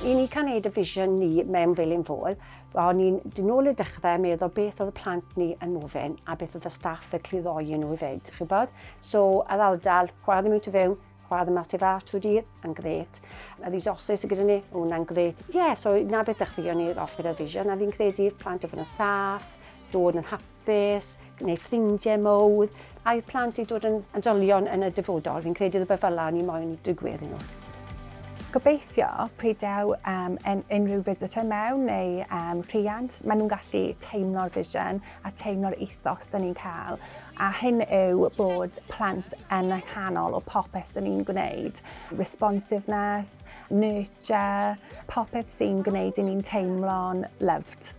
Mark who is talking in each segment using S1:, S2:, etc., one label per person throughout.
S1: I ni cael gwneud y vision ni mewn fel un fôl, o'n i'n dyn ôl y dechrau meddwl beth oedd y plant ni yn mofyn a beth oedd y staff y cliddoi nhw i fyd, chi'n bod? So, a ddaldal, chwadd yma tu fewn, chwadd yma tu fas trwy dydd, yn gret. A ddys osus y gyda ni, hwnna'n gret. Ie, yeah, so na beth ddechrau o'n i'r offer y vision, a fi'n credu'r plant o fod yn saff, dod yn hapus, beth, neu ffrindiau mowr, a'i plant i dod yn oedolion yn y dyfodol. Fi'n credu rhywbeth fel la ni moyn i digwydd i nhw. Gobeithio, peidew um, yn unrhyw visitor mewn neu um, rhiant, maen nhw'n gallu teimlo'r vision a teimlo'r ethos dyn ni'n cael. A hyn yw bod plant yn y canol o popeth dyn ni'n gwneud. Responsiveness, nurture, popeth sy'n gwneud i ni'n teimlo'n loved.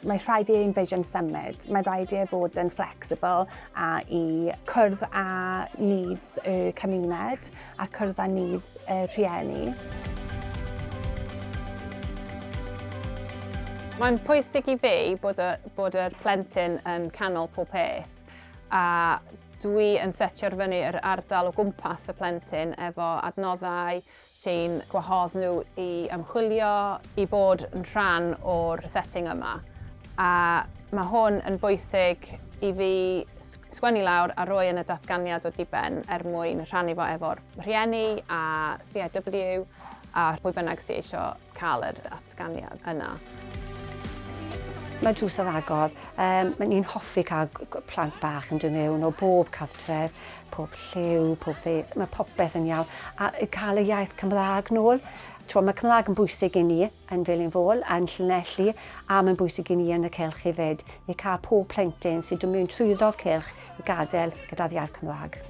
S1: Mae rhaid i ein vision symud. Mae rhaid i e fod yn flexible a i cwrdd â needs y cymuned a cwrdd â needs y rhieni. Mae'n pwysig i fi bod, y, bod yr plentyn yn canol pob peth a dwi yn setio'r fyny yr ardal o gwmpas y plentyn efo adnoddau, sy'n gwahodd nhw i ymchwilio, i fod yn rhan o'r setting yma. A mae hwn yn bwysig i fi sgwennu lawr a roi yn y datganiad o diben er mwyn rhannu fo efo'r rhieni a CIW a pwy bynnag sy'n eisiau cael yr atganiad yna. Mae drws ar agor. Um, mae ni'n hoffi cael plant bach yn dod mewn o bob cartref, pob lliw, pob ddes. Mae popeth yn iawn. A cael y iaith Cymraeg nôl. Twa, mae Cymraeg yn bwysig i ni yn fel yn fôl, yn Llanelli, a mae'n bwysig i ni yn y celch hefyd. I cael pob plentyn sy'n dod mewn trwyddodd celch risg gadael gyda'r iaith Cymraeg.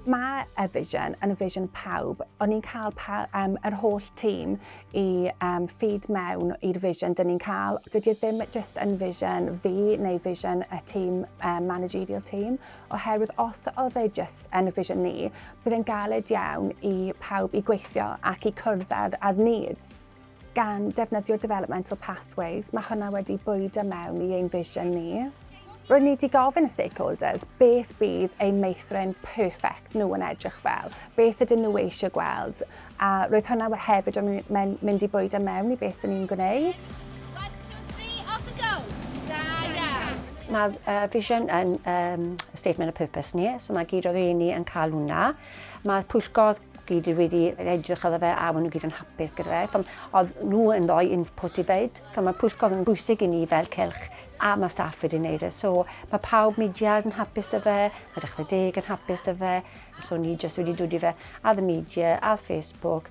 S1: Mae y vision yn y vision pawb, ond ni'n cael pa, um, yr holl tîm i um, ffid mewn i'r vision dyn ni'n cael. Dydy e ddim just yn vision fi neu vision y tîm, um, managerial team, oherwydd os oedd e just yn y vision ni, bydd e'n galed iawn i pawb i gweithio ac i cwrdd ar, ar needs. gan defnyddio developmental pathways, mae hwnna wedi bwydo mewn i ein vision ni. Rwy'n ni wedi gofyn y stakeholders beth bydd ein meithrin perfect nhw yn edrych fel, beth ydyn nhw eisiau gweld, a roedd hwnna hefyd yn mynd i bwydo mewn i beth dyn ni'n gwneud. Mae uh, vision yn um, statement of purpose ni, so mae gyd o'r un ni yn cael hwnna. Mae'r pwyllgor gyd wedi edrych ar fe a maen nhw gyd yn hapus gyda fe. Fam, oedd nhw yn rhoi input i feid. Fam, mae pwyllgor yn bwysig i ni fel cylch a mae staff wedi wneud e. So mae pawb media yn hapus dy fe, mae dechrau deg yn hapus dy fe. So ni jyst wedi dod i fe ar y media, ar Facebook,